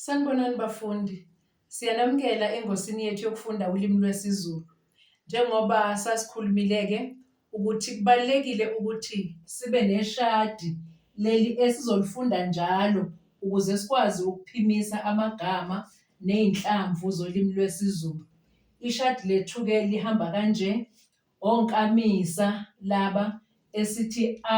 Sanibonani bafundi, siyanamukela engosini yethu yokufunda ulimi lwesiZulu. Njengoba sasikhulumile-ke ukuthi kubalulekile ukuthi sibe neshadi leli esizolifunda njalo ukuze sikwazi ukuphimisa amagama ney'nhlamvu zolimi lwesiZulu. Ishadi lethu-ke lihamba kanje, onkamisa laba esithi a,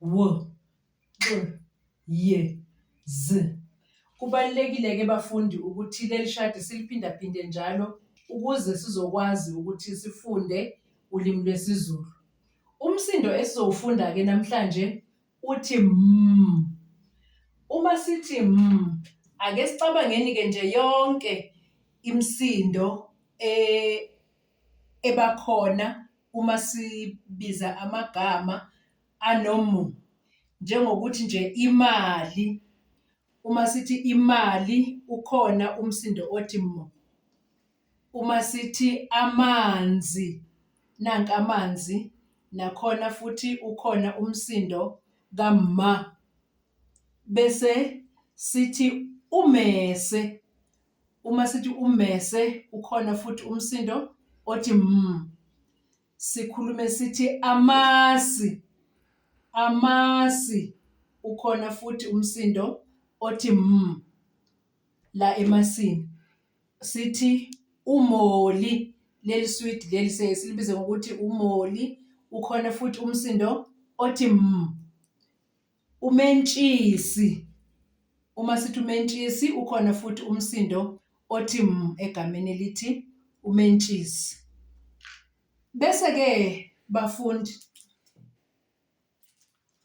w x y z kubalulekile ke bafundi ukuthi leli shadi siliphindaphinde njalo ukuze sizokwazi ukuthi sifunde ulimi lwesiZulu umsindo esizowufunda ke namhlanje uthi m uma sithi m ake sicabangeni ke nje yonke imsindo e ebakhona uma sibiza amagama anomu, njengokuthi nje imali, uma sithi imali ukhona umsindo othi mu. Uma sithi amanzi, nanka amanzi, nakhona futhi ukhona umsindo kamma. Bese sithi umese. Uma sithi ummese ukhona futhi umsindo othi mm. Sikhulume sithi amasi. Amasi ukhona futhi umsindo othi mm la emasini. Sithi umoli leli swidi leli siye silibize ngokuthi umoli ukhona futhi umsindo othi mm. Umentshisi, Uma sithi umentshisi ukhona futhi umsindo othi m egameni elithi umentshisi. Bese-ke bafundi,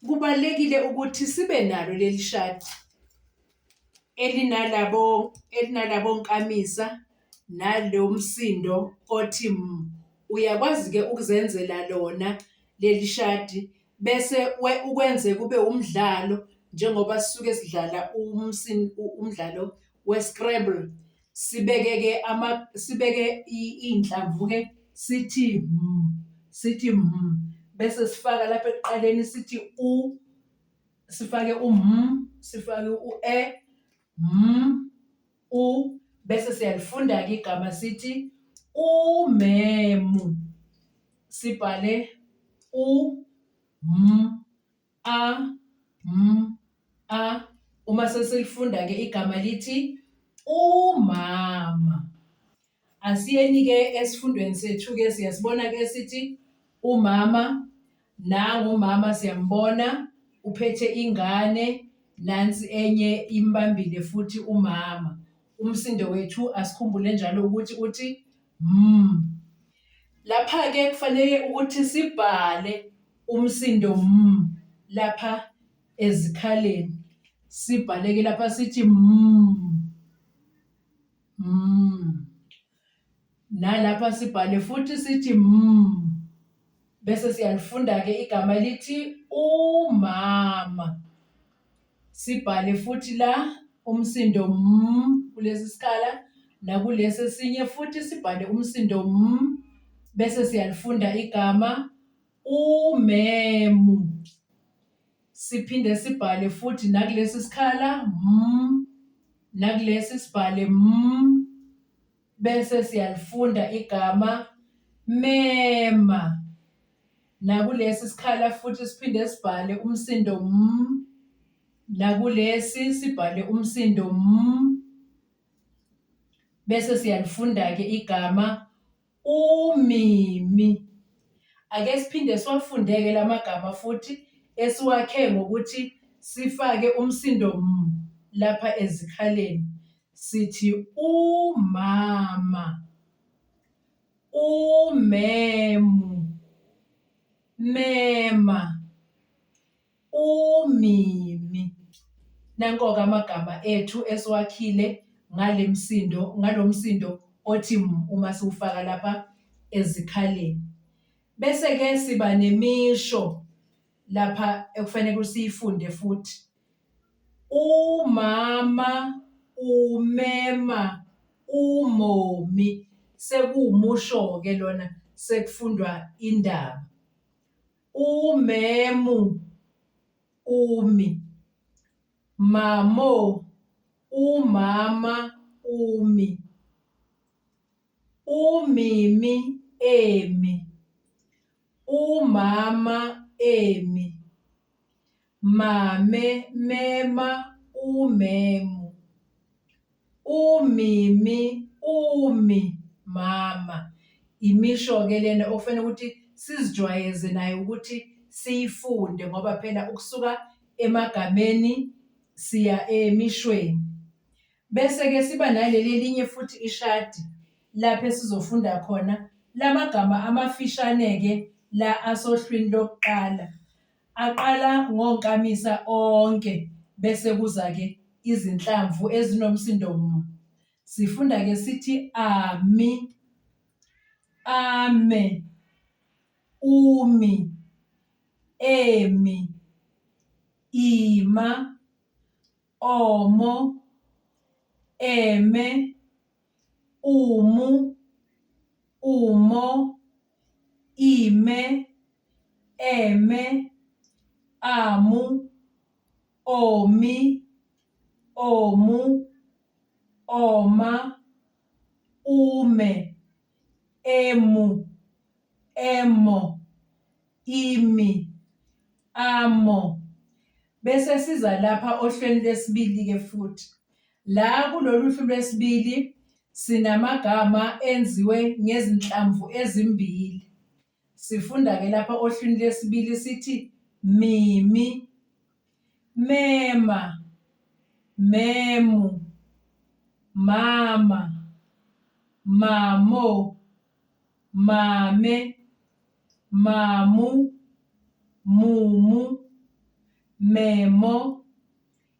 kubalulekile ukuthi sibe nalo leli shadi elinalabo elinalabo nkamisa nalo msindo othi m. Uyakwazi-ke ukuzenzela lona leli shadi. bese ukwenze kube umdlalo njengoba sisuke sidlala umdlalo we-scrabble. Sibeke-ke sibeke iy'nhlamvu-ke sithi sithi bese sifaka lapha ekuqaleni sithi u, sifake sifake u-e, U bese siyalifunda-ke igama sithi umemu. Sibhale u m a m a uma sesilifunda-ke igama lithi umama. Asiyeni-ke esifundweni sethu-ke siyasibona-ke esithi umama nangu umama siyambona uphethe ingane nansi enye imbambile futhi umama. Umsindo wethu asikhumbule njalo ukuthi uthi mm. Lapha-ke kufanele ukuthi sibhale umsindo mm lapha ezikhaleni. Sibhale-ke lapha sithi mm. Mm. Nalapha sibhale futhi sithi mm. Bese siyalifunda ke igama lithi umama. Sibhale futhi la umsindo m kulesi sikhala nakulesi esinye futhi sibhale umsindo m bese siyalifunda igama umemu. Siphinde sibhale futhi nakulesi sikhala mm, nakulesi sibhale mm, bese siyalifunda igama mema. Nakulesi sikhala futhi siphinde sibhale umsindo mm, nakulesi sibhale umsindo m bese siyalifunda-ke igama Umimi. Ake siphinde siwafundeke la magama futhi esiwakhe ngokuthi sifake umsindo m lapha ezikhaleni. Sithi umama, umemu, mema, UMimi. Nanko-ke amagama ethu esiwakhile ngale msindo, ngalo msindo othi m uma siwufaka lapha ezikhaleni. Bese-ke siba nemisho lapha ekufanele siyifunde futhi. Umama umema umomi sekuwumusho-ke lona sekufundwa indaba. umemu umi mamo umama umi umimi emi umama emi Mame, mema, umemu. Umimi, umi, mama. Imisho-ke lena okufanele ukuthi sizijwayeze nayo ukuthi siyifunde ngoba phela ukusuka emagameni siya emishweni. Bese-ke siba naleli elinye futhi ishadi lapho esizofunda khona la magama amafishane-ke la asohlwini lokuqala. Aqala ngonkamisa onke bese kuza-ke izinhlamvu ezinomsindo m. Sifunda-ke sithi ami, ame, umi, emi, ima, omo, eme, umu, umo, ime, eme, amu, omi, omu, oma, ume, emu, emo, imi, amo. Bese siza lapha ohlweni lesibili-ke futhi. La kulolu hlu lwesibili sinamagama enziwe ngezinhlamvu ezimbili. Sifunda ke lapha ohlwini lesibili sithi mimi, mema, memu, mama, mamo, mame, mamu, mumu, memo,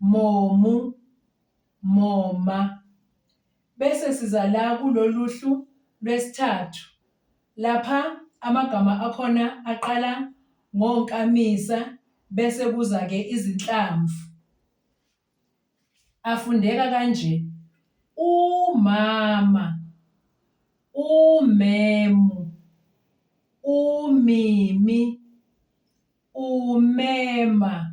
momu, moma, bese siza la kulolu hlu lwesithathu. Lapha amagama akhona aqala ngonkamisa bese kuza-ke izinhlamvu. Afundeka kanje, umama, umemu, umimi, umema,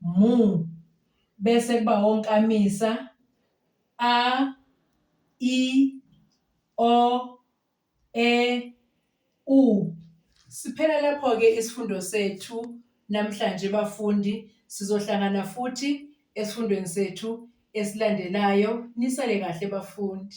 mu, bese kuba onkamisa, a, i, o, e, u. Siphela lapho-ke isifundo sethu namhlanje bafundi, sizohlangana futhi esifundweni sethu esilandelayo. Nisale kahle bafundi.